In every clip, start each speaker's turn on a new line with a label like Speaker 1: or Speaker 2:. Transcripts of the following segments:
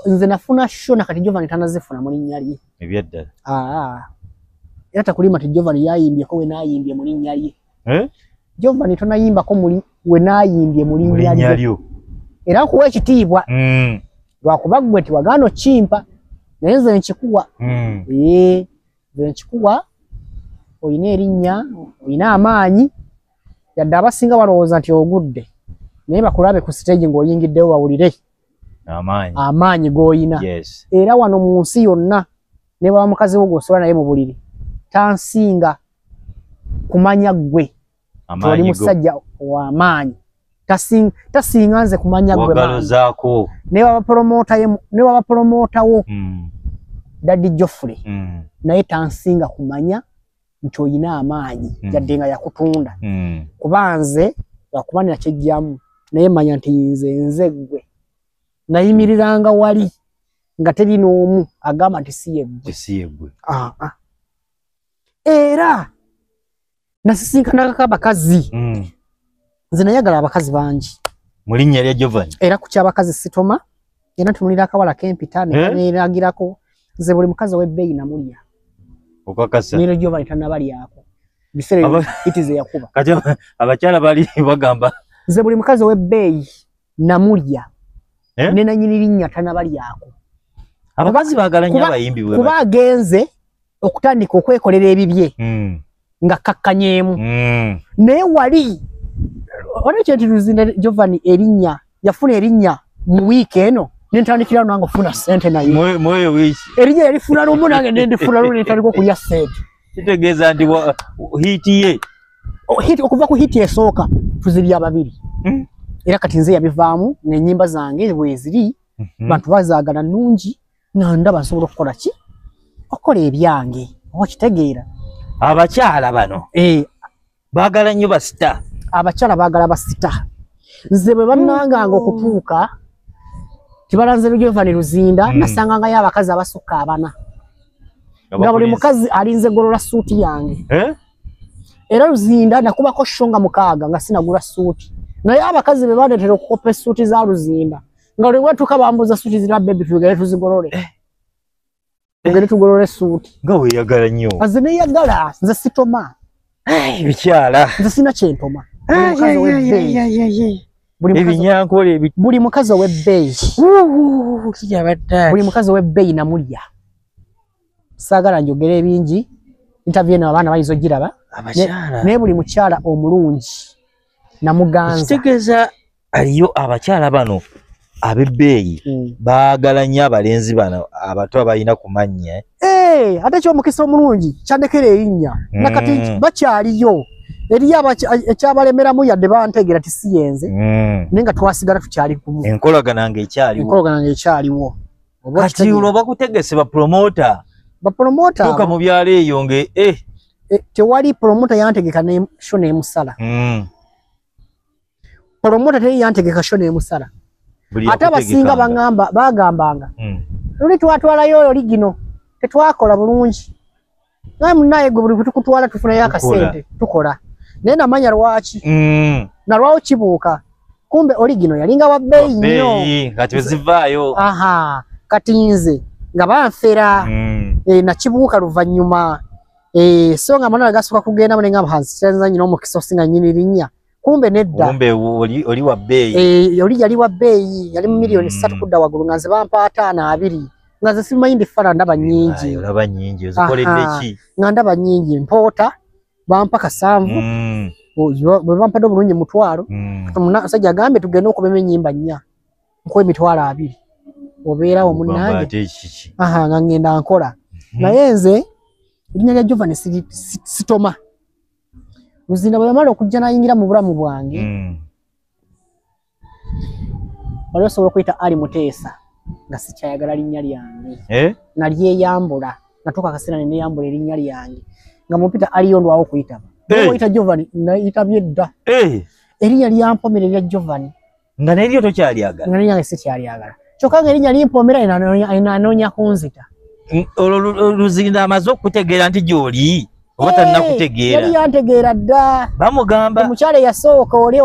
Speaker 1: nze nafuna sho na kati Jovan tanazifuna mu linnya lye ebyaddala aa
Speaker 2: era
Speaker 1: takulima ti Jovan yayimbyeko we nayimbye mu linnya lye eh? Jovan tonayimbako muli we nayimbye mu linnya lye era kuwa ekitiibwa mm. lwakuba gwe ti wagaano kimpa naye nze nkikuwa mm. ee nze nkikuwa olina erinnya olina amaanyi yadde abasinga balowooza nti ogudde naye bakulabe ku siteegi ng'oyingiddewo bawulire amaanyi g'oyina era wano mu nsi yonna ne baba mukazi wo gwosobola naye mu buliri tansinga kumanya ggwe toli musajja w'amaanyi tasinga nze kumanya ggwe ne baba pulomootawo hmm. daddy joffrey hmm. naye tansinga kumanya nti olina amaanyi mm. yadde nga yakutunda mm. kuba nze lwakuba nakyejjamu naye manya nti nze nze ggwe nayimiriranga wali nga teri n'omu agamba nti si yeggwe ah, ah. era nasisinkanakako abakazi mm. nze nayagala abakazi bangi mu linnya lya
Speaker 2: jovan era ku kyabakazi sitoma
Speaker 1: era ntunulira akawala kempita Eh? neragirako nze buli mukazi ow'ebbeeyi namulya okakasa
Speaker 2: nero jovan
Speaker 1: tanabalyako biseera Aba- itize yakuba kati aba- abakyala
Speaker 2: bali bagamba nze buli mukazi
Speaker 1: ow'ebbeeyi namulya Eh? ne nanyini linnya tanabalyako abakazi
Speaker 2: bagala nnyo kuba- abayimbi bwe kuba bati. agenze
Speaker 1: okutandika okwekolera ebibye mm. nga kakkanyeemu mm. naye wali olwekyenti luzinda jovani erinnya yafuna erinnya mu wiiki eno nentandikirawo nange ofuna sente nayemwoyo wiiki erinnya
Speaker 2: yalifuna lumu
Speaker 1: nange nendifuna lumu nentandika okulya sente kitegeeza nti
Speaker 2: hiiti ye oh, okuva ku
Speaker 1: hiiti esooka tuzibya babiri hmm? era kati nze yabivaamu nenyimba zange bweziri mhm. bantu bazagala nungi nga ndaba nsobola okukola ki okukola ebyange okitegeera abakyala
Speaker 2: bano eh. baagala nnyo basita abakyala baagala
Speaker 1: basita nze bwe bannanganga okutuuka kibalanze lugyova ne luzinda hmm. nasangangayo abakazi abasukka abana nga buli mukazi alinze golola suuti yange eh? era luzinda nakubako sho nga mukaaga nga sinagula suuti naye abakazi be baletera okukopa esuuti za luzinda nga lwe watuka bambuza suti zira baby tugere tuzigorore eh. tugere tugorore suti nga we yagala nyo
Speaker 2: aze ne yagala
Speaker 1: nze sitoma eh bikyala
Speaker 2: nze sina
Speaker 1: chentoma ebinyankole ebi buli mukazi owe beyi buli mukazi owe beyi na mulya sagala njogere ebingi interview eno abaana bayizo giraba naye buli mukyala omulungi namuganza kitegeza
Speaker 2: aliyo abakyala bano abebbeeyi hmm. baagala nnyo abalenzi bano abato abalina ku mannya eh? Eh, ate ekyomukisa
Speaker 1: omulungi kyandekera erinnya hmm. nakati bakyaliyo eriyo ekyabalemeramu yadde bantegeera ti si yenze hmm. naye nga twasigala tukyali kumu enkolagana
Speaker 2: nga
Speaker 1: ekyaliwo kati
Speaker 2: olwo bakutegese bapromota bapromota tuka mu byalo eyo nga eh. tewali
Speaker 1: promota yantegeka sho nemusala promota teri yantegeka sho nemusala ate abasinga bagamba bagambanga hmm. luli twatwalayo oyo ligino tetwakola bulungi naye munaye gwe buli kutukutwala tufunayo akasente tukola naye namanya lwaki hmm. nalwawo kibuuka kumbe oligino yalinga wa bbeeyi nnyo kati wezivaayo
Speaker 2: aha kati
Speaker 1: nze nga banfera hmm. eh, nakibuuka luvannyuma Eh, so nga manara gasuka kugenda mune ngam hansi chenza nyino mu kisosi nga nyini linya. Kumbe nedda. Kumbe oli oli wa
Speaker 2: bay. Eh, oli yali wa bay,
Speaker 1: yali mu milioni 3 mm. kudda wagulu nga nziba mpa atana abiri. Nga zisima indi fara ndaba nyingi. Ayo ndaba nyingi. Zikole neki. Nga ndaba nyingi mpota bampa kasanvu. Mm. Bwe bampa do bulunye mutwaro. Mm. Muna saja gambe tugenda okubeme nyimba nya. nkuwa emitwalo abiri obeerawo munange aha nga ngenda nkola mhm. naye nze erinnya lya jovan sitoma luzinda bwe yamala okujja nayingira mu bulamu bwange mm. wali osobola okuyita ali muteesa nga sikyayagala linnya lyange eh? nalyeyambula natuuka akaseera neneyambula erinnya lyange nga mupita aliyo ndwawo okuyitaba eh. oyita jovan nayitabye dda eh. erinnya lyampomererya jovan nga neryo
Speaker 2: tokyalyagala nga nenyange sikyalyagala
Speaker 1: kyokka nga erinya limpomera anoonya
Speaker 2: kunzita olwo luzinda amaze okukutegeera
Speaker 1: nti
Speaker 2: gyoli oba tanakutegeera yali yantegeera dda
Speaker 1: bamugamba omukyala
Speaker 2: eyasooka
Speaker 1: oli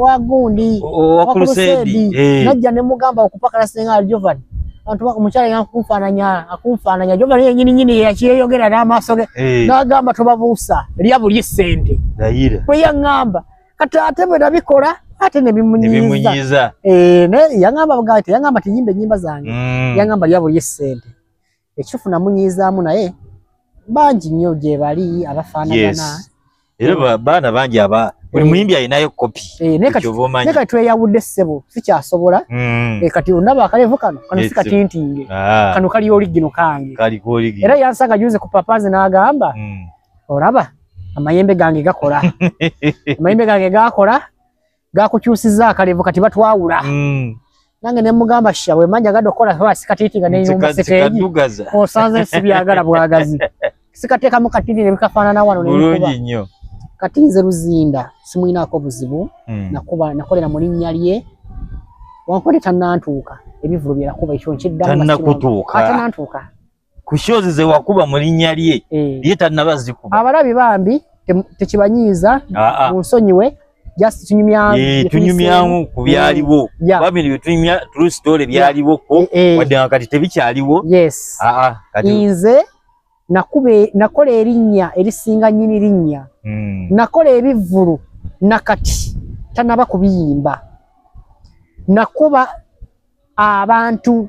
Speaker 1: wa gundi wakuluseedi
Speaker 2: eh. najja ne mugamba
Speaker 1: okupakala senga aljovan omukyala yakunfaananya akunfaananya jovan yenyini nyini yakyeyogera n'amaaso ge eh. n'agamba tobabuusa lya buli sente bwe yaŋŋamba kati ate bwe nabikola ate nebimunyiza eh, yangamba bugati yangamba tiyimba enyimba zange mm. yangamba lyabo lyesente ekitufu namunyizaamu naye bangi nnyo gyebali abafaanagana era
Speaker 2: baana bangi aba buli eh. muyimbi alinayo kopi eh, naye
Speaker 1: kati tweyawudde ssebo sikyasobola mm. kati ondaba akalevu kano kano si katintinge ah. kano kali oligino kange era yansanga juze ku papaze n'agamba mm. olaba amayembe gange gakola amayembe gange gakola gakukyusiza akalevu kati batwawula mm. nange nemugamba sha wemanja gado kola kwa sikatiti nga neyumba siteji osanze sibyagala bwagazi sikateka mu katini ne bikafana na wano nekuba
Speaker 2: kati nze
Speaker 1: luzinda simulina ako buzibu mm. nakuba nakolera mu linnya lye wankole tanantuuka ebivulu byerakuba ekyo nkiddamu tannakutuuka
Speaker 2: tanantuuka ku shows ze wakuba mu linnya lye eh. ye tannaba zikuba abalabi bambi
Speaker 1: tekibanyiiza ah, ah. munsonyiwe just tunyumyamu eh, tunyumyamu
Speaker 2: ku byaliwo mm, bambi bye tunyumya true story byaliwo ko eh, wadde nga kati tebikyaliwo yes ah, nze
Speaker 1: nakola erinnya erisinga nyini linnya hmm. nakola ebivvulu nakati tanaba kubiyimba nakuba abantu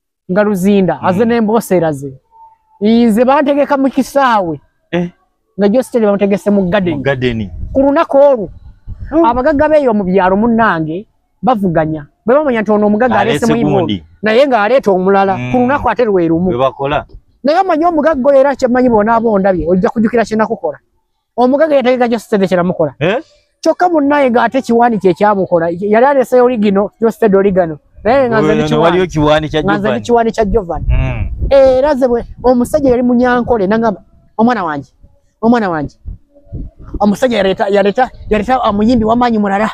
Speaker 1: nga luzinda mm. aze nembooseraze nze bantegeka mu kisaawe eh. nga jositeri bamutegese mu gadeni ku lunaku olwo oh. abagaga beeyo mu byalo munnange bavuganya bwe bamanya nti ono omugaga aleesemu imondi naye ng'aleeta omulala ku mm. lunaku ate lwe lumu naye omanyi omugagga oyo era kyemanyi bonaaba ondabye ojja kujukira kyenakukola omugaga yategeka jositede kyenamukola eh? kyokka munnaye ng'ate kiwaani kye kyamukola yali aleseyo oligino jositede oligano naye nga nze kiwaani kya jovan hmm. era ze omusajja yali munyankole nangamba omwana wange omwana wange omusajja yaleta omuyimbi wamaanyi mulala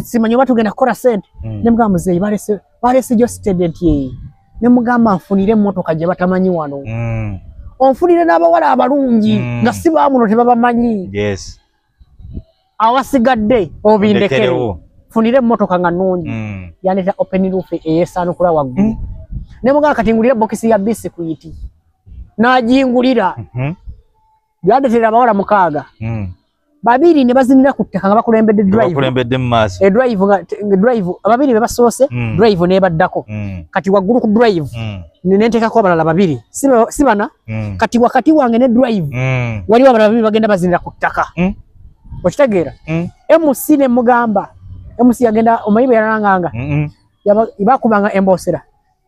Speaker 1: simanyi oba tugenda kukola sente hmm. nemugamba muzeeyi balese balesijo student ye ne mugamba nfunire motoka je batamanyi wano mm. onfunire n'abawala abalungi mm. nga si bamuno tebabamanyi yes. awasigadde obindekere funire motoka nga nungi mm. yaneta open roof eyesanukula waggulu mm. ne mugamba kati ngulire bokisi ya bisi kuyiti najingulira mm -hmm. yandetera abawala mukaaga mm. babiri ne bazinira ku ttaka nga bakulembedde drivebakulembedde mu maaso e drive nga drive ababiri be basoose mm. drive nebaddako mm. kati waggulu ku drive mm. nenteekako abalala babiri si bana mm. kati wakati wange ne drive mm. waliwo abalala babiri bagenda bazinira ku ttaka mm. okitegeera mm. mc ne mugamba mc yagenda omayibe yalanganga mm -mm. bakubanga embosera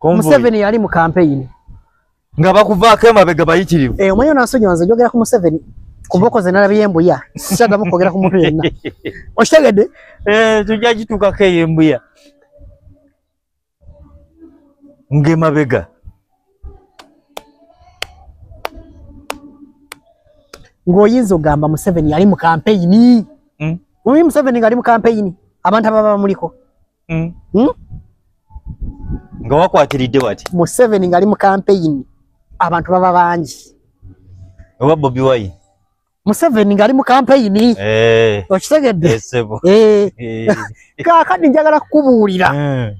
Speaker 1: museveni yali mu kampeyini nga
Speaker 2: bakuvaako emabega bayitirivu eh, omanyi onasonyiwa nze
Speaker 1: njogera ku museveni ku mboko ze nalabye embuya sikyadamu kwogera ku muntu yenna okitegedde eh, tujja
Speaker 2: kituukako eyo embuya ng'emabega
Speaker 1: ng'oyinza ogamba museveni yali mu kampeyini hmm? omanyi museveni ngaali mu kampeyini abantu ababa bamuliko Mm. Hmm?
Speaker 2: nga wakwatiridde wati museveni ngali mu
Speaker 1: kampeyini abantu baba bangi oba
Speaker 2: bobi wayi museveni
Speaker 1: ngali mu kampeyini eh. okitegedde eh, eh. eh. kakadi njagala kukubuulira hmm.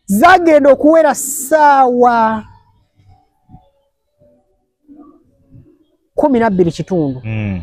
Speaker 1: zagenda okuwera saawa kumi nabbiri kitundu hmm.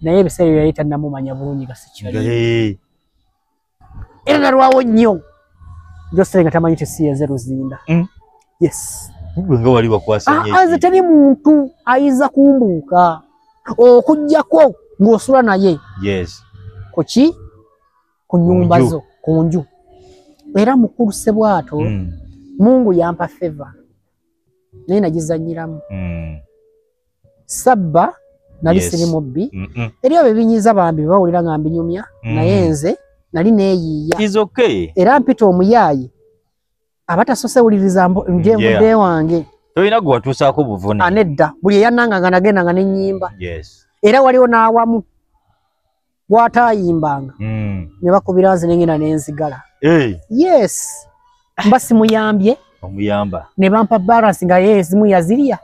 Speaker 1: naye ebiseera ebyo yali tannamumanya bulungi nga sikyali Eh, era nalwawo nnyo josere nga tamanyi tesiyeze luzinda Mm. yes gwe nga wali
Speaker 2: wakwasa nnyo Ah, nze eki. teri muntu
Speaker 1: ayinza kumbuuka okugyako ng'osula naye yes
Speaker 2: ku ki
Speaker 1: ku nyumba nju. zo ku nju era mukulu sebwato Mm, mungu yampa feva naye nagizanyiramu mm. sabba nali Yes. siri mubbi Mm -mm. eri abo ebinyiza bambi bawulira nga mbinyumya Mm. naye nze nali neeyiiya It's okay. era
Speaker 2: mpita omuyaaye
Speaker 1: abatasose wuliriza mbu- njenvudde Yeah. wange Tolina gwe watuusaako
Speaker 2: buvune. anedda buli eyananganga
Speaker 1: nagendanga nenyimba Yes. era waliwo
Speaker 2: n'awamu
Speaker 1: gwatayimbanga mm. ne bakubira nze nengenda nenzigala hey. yes mba simuyambye omuyamba
Speaker 2: ne bampa balance
Speaker 1: nga ye ezimu yazirya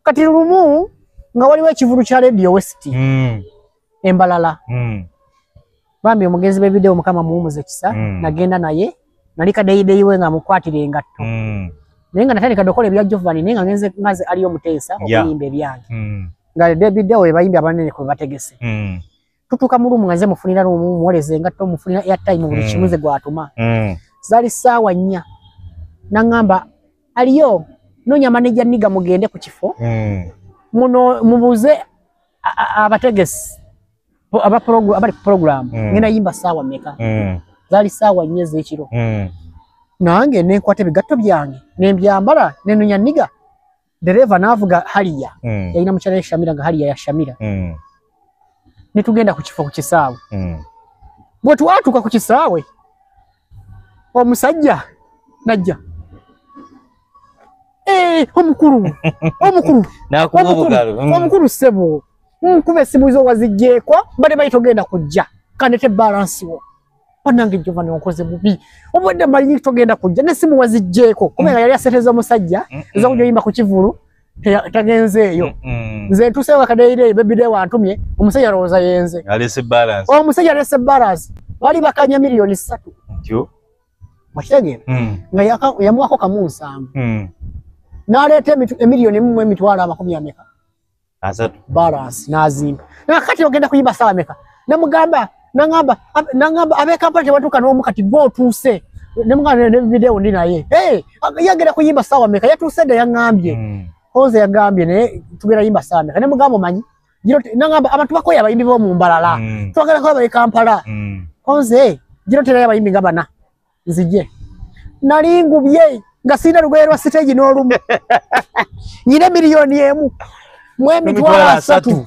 Speaker 1: kati lumu nga waliwo ekivulu kya radio west mm. embalala mm. bambi omugenzi bebidewo mukama muwumuze kisa mm. nagenda naye nali kadeyideyi we nga mukwatira engatto mm. naye nga natandika dokola ebya jovani naye nga ngenze ngaze aliyo omuteesa okuyimba ebyange mm. nga debi deo ebayimbi abanene kwe bategese mm. tutuuka mu lumu nga nze mufunira lumu muwoleza engatto mufunira airtime buli mm. kimu nze gwatuma mm. zali saawa nnya nangamba aliyo nonya maneja niga mugende ku kifo mm. muno mubuze abategesi aba program abali program mm. ngena yimba sawa meka mm. zali sawa nyeze ekiro mm. nange ne kwate bigatto byange ne mbyambala ne nunya niga dereva navuga haliya mm. yaina muchara ya shamira nga haliya ya shamira mm. ne tugenda ku kifo ku kisawe mm. bwe twatuka ku kisawe omusajja najja eh, omukulu omukulu mm. omukulu sebo nkuba mm, esimu zo wazijjeeko bade bayita ogenda kujja kanete balansi wo banange jova nonkoze bubi obwedde malinyi togenda kujja nesimu wazijjeeko kubanga mm. yali aseteza omusajja ezakuja oyimba ku kivulu tagenzeeyo nze ntuseewo akadeyirei bebide wantumye omusajja alowooza yenze omusajja alese balance bali bakanya miliyoni satu okitegeera hmm. nga yamuwako kamu nsanvu hmm. naleeta emiliyoni emu emitwalo amakumi ameka balansi nazimba nakati ogenda kuyimba sala meka namugamba nangamba nangamba abe kampala tebatuuka n'omu kati gwe otuuse ne mwana ne video ndi naye hey, yagera kuyimba sawa meka yatuuse dda yaŋŋambye mm. oze yaŋŋambye naye tugera yimba sawa meka ne mugamba omanyi giro nangamba abantu bakoye abayimbi b'omu mbalala mm. twagala kuba bali kampala mm. oze giro terayo abayimbi nga bana nzije nali ngubye nga sirina lugoye lwa siteegi n'olumu nyina miliyoni emu mu emitwalo asatu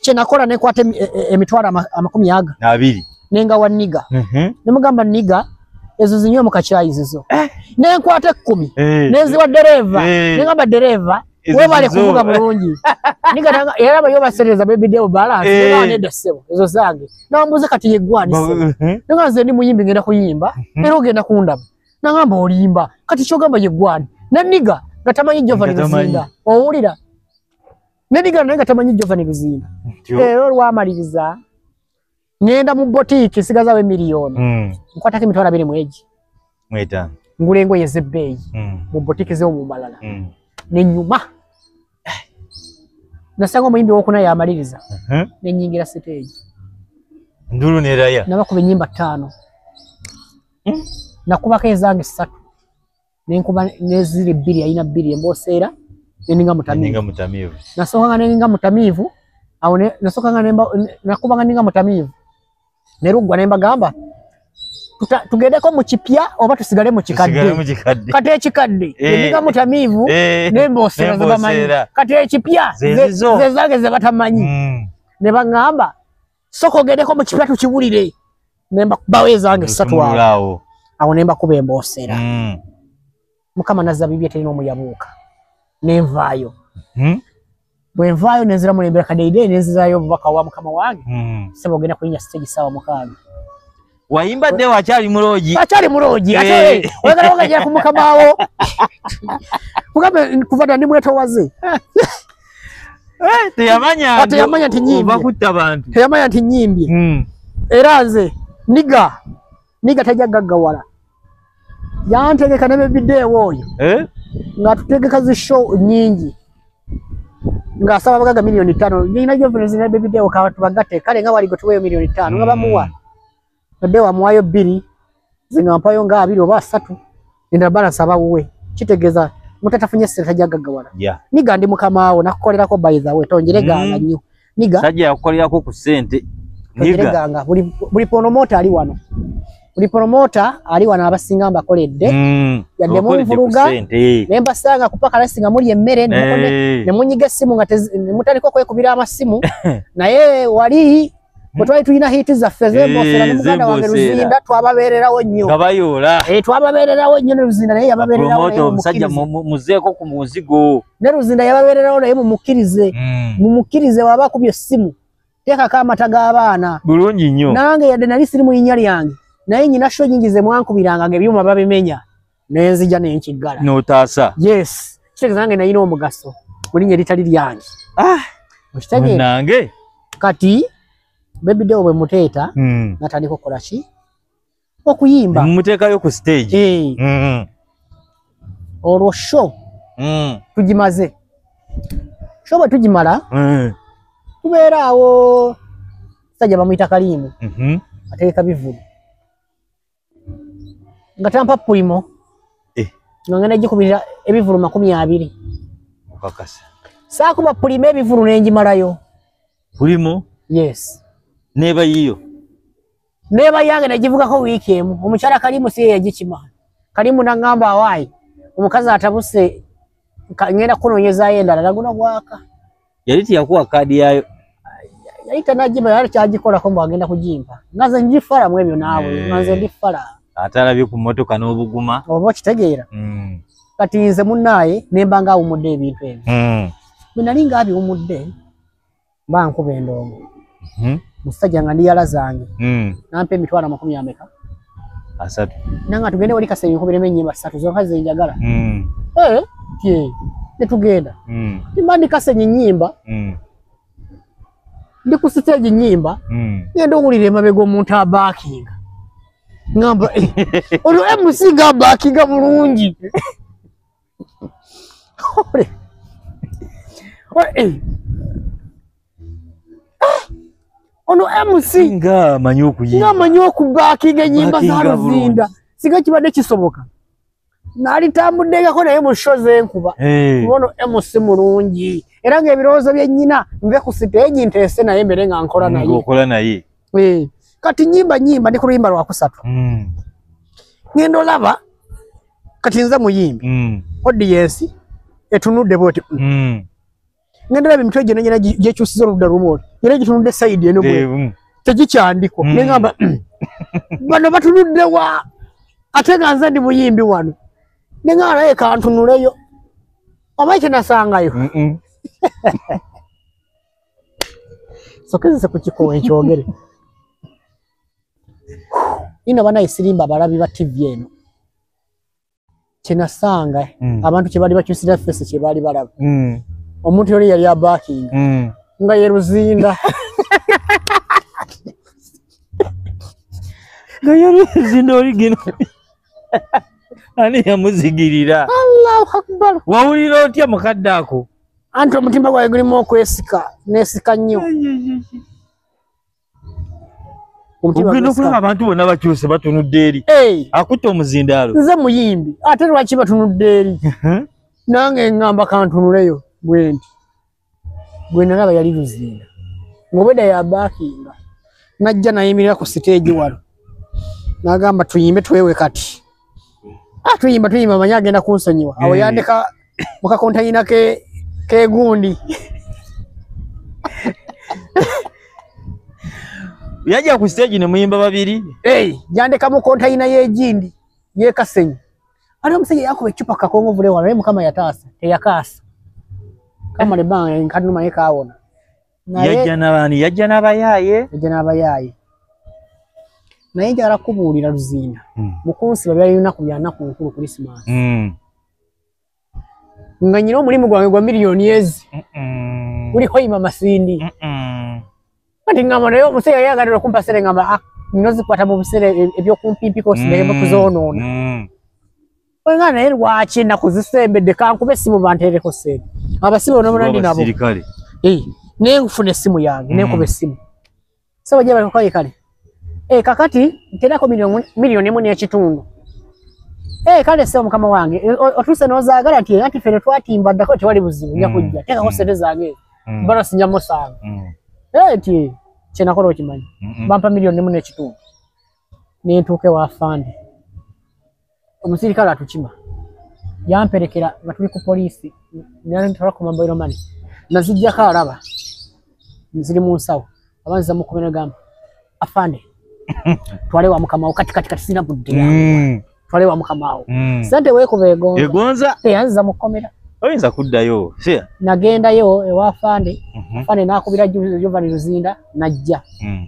Speaker 1: kyenakola nekwata e, e, emitwalo amakumi aga abiri nenga wa niga mhm. nemugamba niga ezo zinywe mukakyayi zizo eh. nenkwata ekkumi eh. neziwa dereva eh. nengamba dereva webale kuvuga bulungi nigatanga era bayo basereza baby deo balance hey. Eh. neda sebo ezo zange nambuze kati yegwani sebo eh. nanga nze ndi muyimbi ngenda kuyimba hmm. era ogenda kundaba nangamba olimba kati kyogamba yegwani na niga gatamanyi jova nizinda owulira ne niga naye gatamanyi jova nizinda era olwamaliriza ngenda mu botiki nsigazawo emiliyoni mm. nkwatako emitwalo abiri mwegi mwetaano ngula engoye ezebbeeyi mm. mu botiki zeomumalala mm. nenyuma nasanga omuyimbi wokuna yamaliriza uh -huh. nenyingira siteegi
Speaker 2: ndulu neraya nabakuba enyimba ttaano
Speaker 1: mm. nakubako ezange ssatu nenkuba neziri bbiri yalina bbiri emboseera neninga mutamiivu nasookanga neninga mutamiivu awo nasookanga nakubanga ninga mutamiivu ne luggwa ne mbagamba tugedeko mu kipya oba tusigale mu kikadde kati ekikadde eh. neninga mutamiivu eh. nemboseera zebamanyi kati ekipya zezange zebatamanyi mm. ne baŋŋamba soka ogendeko mu kipya tukiwulire nemba kubawo ezange ssatu awo awo nemba kuba emboosera mm. mukama nazza bibye terina omuyabuuka nenvaayo hmm? bwenvaayo nenziramu nembera kadeide nenzirayo obubaka wa mukama wange hmm. sebo ogenda kulinya sitegi saawa mukaaga wayimba
Speaker 2: dde wakyali muloogi akyali muloogi ate Eh.
Speaker 1: eh, oyagala wagajira ku mukama wo mugambe kuva dda ndi mwetowaze Eh,
Speaker 2: teyamanya Ah, teyamanya nti nyimbye. ova
Speaker 1: kutta bantu teyamanya
Speaker 2: nti nyimbye Mm.
Speaker 1: era nze niga niga tajja gaggawala yantegeka ne bebideewo oyo eh? nga tutegeka zi show nyingi ng'asaba abagaga miliyoni ttaano nyina gyovunzi ne bebideewo katubagatte kale nga wali gwetuweeyo miliyoni ttaano nga bamuwa mm. ade wamuwayo bbiri zinga mpayo nga abiri oba asatu endala balansi aba wuwe kitegeeza mutatafunye sente tajagagawala yeah. niga ndi mukamaawo nakukolerako by the way tonjeregaala mm. nnyo mm. niga sajja yakukolerako ku
Speaker 2: sente niga
Speaker 1: buli buli promoter ali wano buli promoter ali wano abasinga mbakoledde mm, yadde mu nvuluga ne mbasanga kupaka lasi nga muli emmere ne munyiga essimu nga ne mutaliko kwekubira amasimu naye wali bwe twali tulina hiiti zaffe zembosera ne muganda wange luzinda twababeererawo nnyo nga bayoola
Speaker 2: twababeererawo nnyo
Speaker 1: ne luzinda naye yababeererawo omusajja
Speaker 2: muzeeko ku muzigo ne luzinda yababeererawo
Speaker 1: naye mumukkirize hmm. mumukkirize waba akubye essimu teekako amata g'abaana bulungi nnyo nange
Speaker 2: yadde nali siri mu
Speaker 1: linnya lyange naye nyina sho nyingi ze mwankubiranga nga ebyuma babimenya nenzija nenkiggala notaasa yes
Speaker 2: kitegeeza
Speaker 1: nange nayina omugaso mu linnya eritali lyange ah, okitegeeranange
Speaker 2: kati
Speaker 1: bebidewo bwe muteeta hmm. natandika okukola ki okuyimba mumuteekayo ku
Speaker 2: stage eh. mm-hmm.
Speaker 1: olwo show mm. tugimaze show bwe tugimala eh. tubeera awo sajja bamuyita kaliimu mm-hmm. ateeka bivulu nga tampa pulimo eh. nga ngenda gikubirira ebivulu makumi abiri okakasa
Speaker 2: saakuba
Speaker 1: pulimo ebivulu nengimalayo pulimo
Speaker 2: yes
Speaker 1: neba yiyo
Speaker 2: neba
Speaker 1: yange nagivugako wiiki emu omukyala kalimu siye yagikima kalimu nagamba awaayi omukazi atabuse ngenda kunonyezayo endala naguna gwaka yali tiyakuwa
Speaker 2: kaadi yayo yali
Speaker 1: tanagiba yali kyagikolako mbu agenda kugimpa nga nze ngifala mu ebyo naawe eh. nga nze ndifala ate alabye ku
Speaker 2: mmotoka n'obuguma oba okitegeera
Speaker 1: hmm. kati nze munnaaye nemba nga awumudde ebintu ebyo hmm. bwe nali nga abiwumudde mba nkuba endongo mhm. musajja nga ndiyala zange mm. nampa emitwalo amakumi ameka asatu
Speaker 2: nanga tugende
Speaker 1: wali kasenge nkubiremu enyimba satu zonka zenjagala mm. eh, tye netugenda mm. timba ndi kasenge nyimba mm. ndi ku siteegi nyimba mm. ngenda owulira emabega omuntu abakinga ngamba eh, olwo mc nga abakinga bulungi ono mc nga
Speaker 2: amanyi
Speaker 1: okubakinga enyimba za luzinda singa kibadde kisoboka nalitambuddengako naye mu sho zenkuba eh. kuba ono mc mulungi era ngaebirowoozo byenyina nve ku siteegi nteese naye mbere nga nkola naye Eh. kati nyimba nyimba ndi ku luyimba lwakusatu mm. ngenda olaba kati nze muyimbi mm. odiyensi etunudde bwoti mm. mm. ngenda olaba emitwe gyona gyona gyekyusiza oludda lumu oti era gitunudde sayidi eno bwe mm. tegikyandiko mm. nengamba mm. bano batunudde wa ate nga nze ndi muyimbi wano nengamba naye kantunuleyo oba ekyenasangayo mm -mm. sokezese ku kikowe nkyogere ino banaye sirimba abalabi ba tv eno kyenasanga mm. abantu kyebaali bakyusira fesi kyebaali balaba mm. omuntu yoli yali abakinga mm. nga ye luzinda
Speaker 2: nga ye luzinda oligino ani yamuzigirira allahu akbar
Speaker 1: wawulira otya
Speaker 2: mukadde ako anti omutima
Speaker 1: gwange gulimu okwesika nesika nnyo
Speaker 2: ogenda okulaba abantu bonna bakyuse batunudde eri akutte omuzindaalo nze muyimbi
Speaker 1: ate lwaki batunudde eri nange ngamba kantunuleyo bwenti gwenalaba yali luzinda ngobeda yabakinga najja nayimirira ku siteegi wano nagamba tuyimbe twewe kati Ah, tuyimba tuyimba manya agenda kunsonyiwa awo Eh. yandeka mu kakonteyina ke kegundi
Speaker 2: yajja ku stage ne muyimba babiri hey, yandeka mu
Speaker 1: konteyina y'egindi yekasenyi ali omusajja yakuba ecupa kakongovule wala naye mukama yataasa teyakaasa kamala ebbanga nkanuma naye kaawona yajja
Speaker 2: nabaani yajja nabayaaye yajja nabayaaye
Speaker 1: naye njagala kubuulira luzinda hmm. mukunsiba byali lunaku byanaku nkulu krisimansi hmm. nga nyina omulimu gwange gwa miliyoni ezi guliko ima masindi kati ngamba naye omuseera yali aganira okumpa sere ngamba ah, nino zikwata mu buseera e, ebyokumpimpiko sigaemu kuzoonoona hmm. Oinga naye lwaki ennaku zisembedde kankube essimu banteereko ssente abasibe onobona ndi nabo eh, naye nkufuna essimu yange mm. nenkuba essimu saba gye bali kukaye kale eh, kakati nterako miliyoni emu n'ekitundu eh, kale ssebo mukama wange otuuse n'ozaagala nti anti fene twatimba ddako tewali buzibu nja mm. kujja teekako ssente mm. zange bano sinja musaanga nti kyenakola okimanyi bampa miliyoni emu n'ekitundu nentuuka ewa fande omusirikale atukima yamperekera nga tuli ku poliisi nantwala ku mobile money nazijjako alaba nziri mu nsawo aba nziza mu kubera gamba afande twale wa mukamawo kati kati kati sina budde mm. twale wa mukamawo mm. sente wekuba egonza egonza teyanziza mu komera oyinza kuddayo
Speaker 2: sia nagendayo
Speaker 1: ewa afande mm -hmm. afande nakubira jovani luzinda najja mm.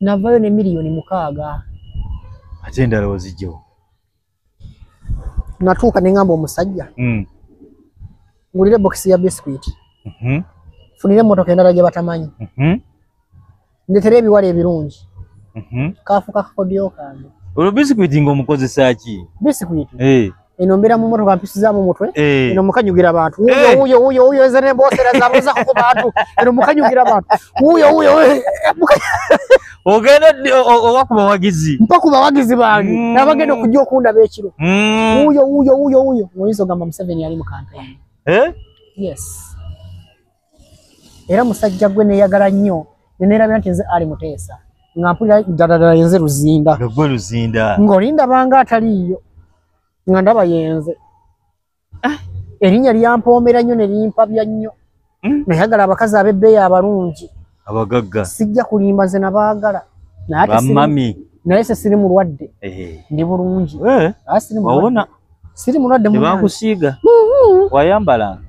Speaker 1: navayo ne miliyoni mukaaga ate
Speaker 2: endala ozijjawo
Speaker 1: natuuka ne ngamba omusajja mm. ngulire bokisi ya biskwiti mm -hmm. funire emotoka endala gye batamanyi mm -hmm. ndetere ebiwala ebirungi mm -hmm. kaafuka kakodyo kange olwo biskwiti
Speaker 2: ngaomukozesa ki biskwiti hey. Eh.
Speaker 1: eno mbeera mu motoka mpisizaamu mutwe eh. eno mukanyugira abantu wuyo eh. wuyo wuyo eze nemboosera zabuzaho ku bantu eno mukanyugira abantu wuyo wuyo
Speaker 2: ogenda oba ku bawagizi mpa ku bawagizi bange
Speaker 1: mm. nabagenda okujja okundaba ekiro mm. wuyo wuyo wuyo wuyo oyinza ogamba museveni yali mu kampeyini eh? yes era musajja gwe neyagala nnyo nenerabira nti nze ali muteesa nga mpulira daladala yenze luzinda gwe luzinda ng'olindabanga ataliiyo nga ndaba yenze ah. erinnya lyampoomera nnyo ne limpabya nnyo hmm? nayagala abakazi ab'ebbeeyi abalungi abagagga
Speaker 2: sijja kulimba nze
Speaker 1: nabaagala nayebamami naye se siri mulwadde ndi bulungi eh. ah, siri mulwadde mubankusiiga mm-hmm.
Speaker 2: wayambalanga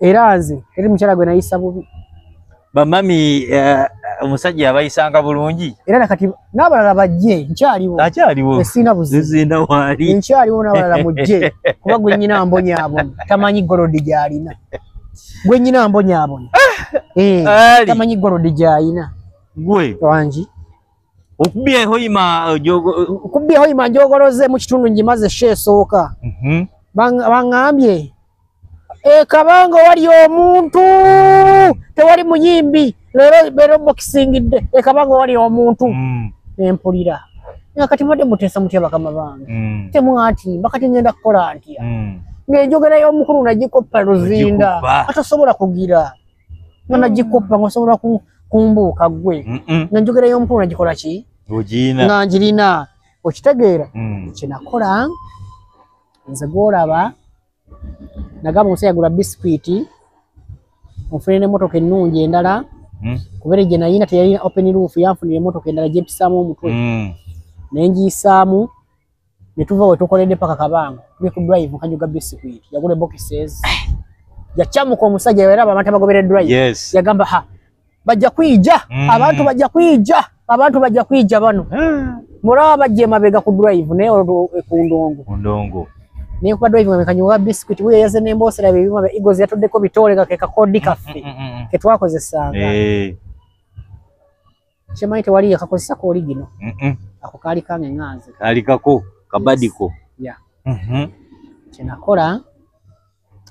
Speaker 2: era nze
Speaker 1: eri mukyala gwe nayisa bubi bamami
Speaker 2: eh, omusajja uh, abayisanga bulungi era nakati
Speaker 1: n'abalala bajje nkyaliwo akyaliwo
Speaker 2: esiina buzizinda
Speaker 1: waali nkyaliwo
Speaker 2: n'abalala
Speaker 1: mujje kuba gwe nyina mbonyaabona tamanyi golodi gyalina gwe nyina mbonyaabona eh, tamanyi golodi gyalina gwe
Speaker 2: wangi
Speaker 1: okubye
Speaker 2: hoima
Speaker 1: uh, jogo okubye hoima njogoloze mu kitundu njimaze she soka mhm bangambye e kabango wali omuntu tewali muyimbi lero lero boxing de e kabango wali omuntu mm. empulira nga kati mode mutesa mutya bakama bange mm. temwati bakati ngenda kola antia mm. ngejogera yo mukuru na jiko paluzinda atasobola kugira nga mm. nagikoppa nga osobola kumbuuka gwe mm. nga njogera y'omukulu nagikola ki nga ngirina okitegeera mm. kyenakola nze gwolaba nagamba omusa yagula bisikwiti nfune nemotoka ennungi endala hmm? kubere gye nayina teyalina open roof yanfunira emotoka endala gyempisaamu omutwe hmm. nengiyisaamu netuva wetukoledde paka kabango tuli ku drive nkajuga bisikuit yagula boxes yacamuka omusajja era abantu abagobera drive yes. yagamba ha bajja kwija mm. abantu bajja kwija abantu bajja kwija bano ah. muraba bajja emabega ku drive naye eh, ku ndongo ku ndongo naye kuba drive nga mekanyuga bisikuit wuyo yaze nembosera byebyuma bya eagles yatuddeko bitoole kakekakodi kaffe mm, mm, mm, ketwakozesanga hey. Eh. kyemanyi tewali yakakozesako oli gino ako kaali kange nganze kaali kako
Speaker 2: kabadiko ya mhm. kyenakola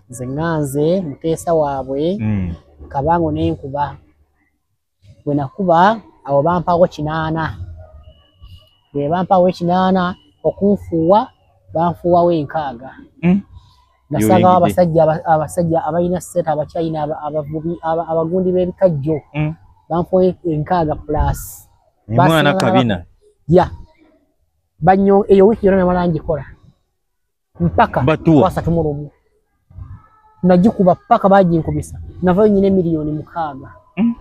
Speaker 2: nze nganze muteesa waabwe mm.
Speaker 1: kabango nenkuba bwenakuba awo bampawo kinaana bwebampawo ekinaana okunfuuwa banfuuwawo enkaaga mm. nasangawo abasajja abasajja abalina sente abakyayina abavubi abagundi b'ebikajjo mm. banfuwa enkaaga plus mwana
Speaker 2: kabina ya
Speaker 1: banyo eyo wiiki yona namala ngikola mpaka kwasatu mu lumu nagikuba paka baginkubisa navayo nyina emiliyoni mukaaga mm.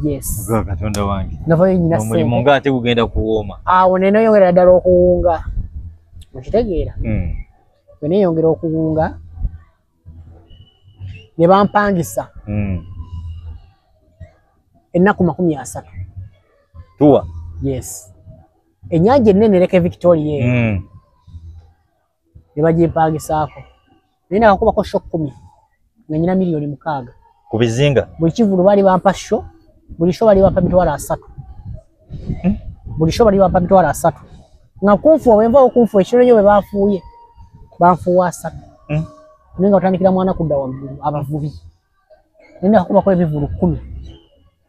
Speaker 1: yes katonda
Speaker 2: wange navayo nyina omulimu
Speaker 1: nga ate gugenda
Speaker 2: kuwooma awo nenoyongera ddala
Speaker 1: okuwunga okitegeera mm. bwe neeyongera okuwunga ne bampangisa hmm. ennaku makumi asatu
Speaker 2: tuwa yes
Speaker 1: ennyanja ennene ereka evictoria eyo hmm. ne bagimpangisaako naye nakakubako sho kumi nga nyina milioni mukaaga ku bizinga
Speaker 2: buli kivulu bali bampa
Speaker 1: sho buli sho bali bampa mitwalo asatu hmm? buli sho bali bampa mitwalo asatu nga kunfuwa bwenva okunfu ekiro nyo bwebafuuye banfuwa asatu hmm? naye nga otandikira mwana kudda waggulu abavubi naye nakubako ebivulu kumi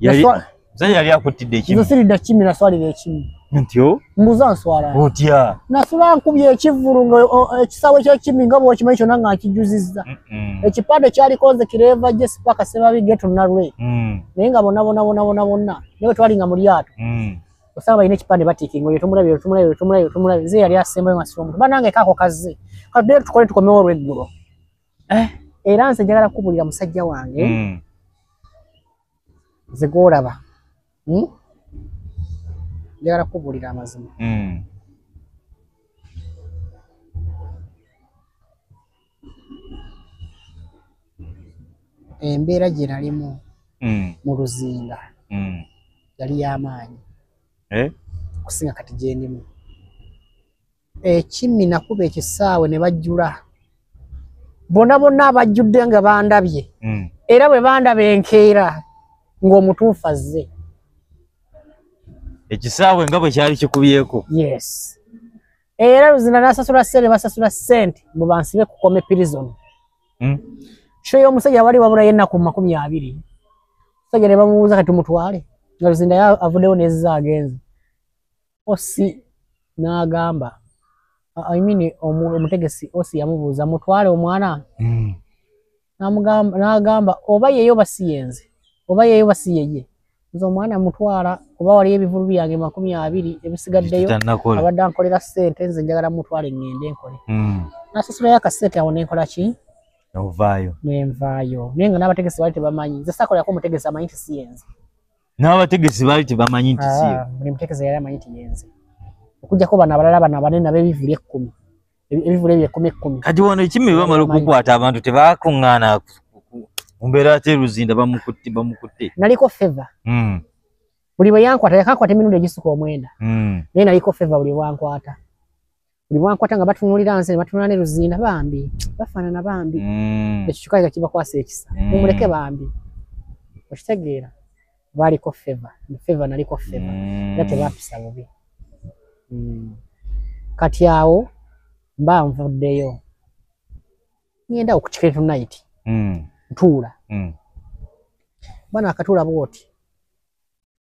Speaker 1: yali
Speaker 2: zani yali akutidde ekimu nze siridda kimi naswalira
Speaker 1: ekimu ntyo mbuza
Speaker 2: nswala
Speaker 1: otya nasula
Speaker 2: nkubye
Speaker 1: ekivulu nga ekisawe kyekimi nga bwokimanyi kyona nga nkijuzizza ekipande kyalikonze kireva je sipaka sebabi geto nalwe mm. naye nga bonabonabonabonabona naye twali nga mu lyato mm. osanga balina ekipande batikinga oyo tomulabye oyo tomulabye oyo tomulabye oyo tomulabye nze yali asembayo nga sira omuntu banange kaako kazze katudde tukole tukomewo olweggulo eh. era nze njagala kukubulira musajja wange mm. nze gwolaba hmm? njagala kukubulira amazima mm. embeera gye nalimu mm. mu luzinda mm. yali y'amaanyi eh? okusinga kati gyendimu ekimmi nakuba ekisaawe ne bajjula bona bonna abajjudde nga bandabye hmm. era bwe bandaba enkeera ng'omutuufu azze
Speaker 2: ekisaawe nga bwe kyali kikubyeko yes
Speaker 1: era luzina nasasula sente basasula sente mbu bansibe kukome pirizoni hmm. sho y'omusajja wali wabulayo ennaku mu makumi abiri omusajja ne bamubuuza kati mutwale nga luzinda avuddewo nezizaagenze osi n'agamba I mean omutegesi osi yamubuuza mutwale omwana hmm. n'agamba oba yeyo basi yenze oba yeyo basi yeye nze omwana mutwala oba waliyo ebivulu byange makumi abiri ebisigaddeyo abadde ankolera ssente nze njagala mutwale ngende nkole hmm. nasasulayo akasente awo nenkola ki ovaayo nenvaayo naye nga n'abategesi bali tebamanyi nze sakolako omutegesi amanyi tisiyenze n'abategesi
Speaker 2: baali tebamanyi nti si ah, buli mutegesi yali amanyi nti
Speaker 1: yenze okujjako bano abalala bano abanene ab'ebivulu ekkumi ebivulu ebyo ekkumi ekkumi kati wano ekimi bamala
Speaker 2: okukwata abantu tebakuŋŋaana mu mbeera ate luzinda bamukutte bamukutte naliko feva
Speaker 1: hmm. buli bwe yankwata yakankwata emirundi egisuka omwenda hmm. naye naliko feva buli bwankwata bwankwata nga batunulira nze batunula ne luzinda bambi bafaanana bambi mm. ekyo kikazi ka kibakwasa ekisa mm. mumuleke bambi okitegeera baaliko feva feva naliko feva mm. era tebampisa bubi kati awo mba nvuddeyo ngenda okukiketu nayiti ntuula bana akatuula bwoti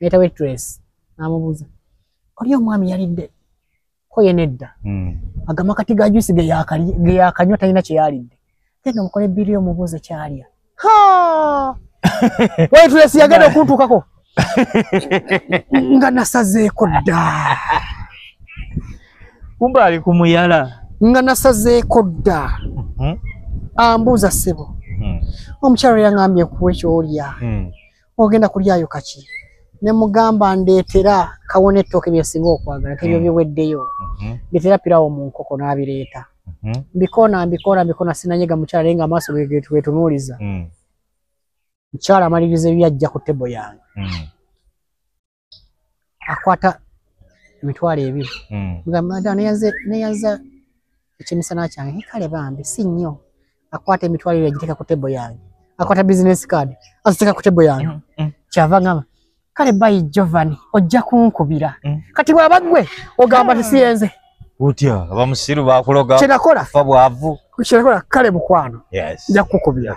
Speaker 1: nayita waitress namubuuza oli omwami yalidde ko ye nedda hmm. agamba kati ga juice ge yakanywa talina kye yalidde genda omukole biri omubuuze kyalya waitress yagenda okuntuukako nga nasazeeko dda
Speaker 2: kumbe ali ku
Speaker 1: muyala nga
Speaker 2: nasazeeko
Speaker 1: dda
Speaker 2: hmm.
Speaker 1: ambuuza ssebo hmm. omukyalo yangambye kuwa ekyolya ogenda kulyayo kaki ne mugamba ndeetera kawona ettooke byesinga okwagala kebyo hmm. biweddeyo hmm. ndeetera pirawo mu nkoko n'abireeta hmm. mbikoona mbikoona mbikoona sinanyega mukyala naye nga amaaso getunuuliza mukyala amaliriza ebyajja ku tebo yange akwata emitwalo ebiri mm. mugamba da neyaze neyaza ekimisana kyange kale bambi si nnyo akwata emitwalo ebiri agiteeka ku tebo yange akwata business card aziteeka ku tebo yange mm, mm. kyava ngamba kale bayi jovani ojja kunkubira mm. kati bwaba gwe ogamba tisiyenze ah. utya
Speaker 2: abamusiru bakuloga kyenakola fa bwavu kyenakola kale
Speaker 1: mukwano nja kukubira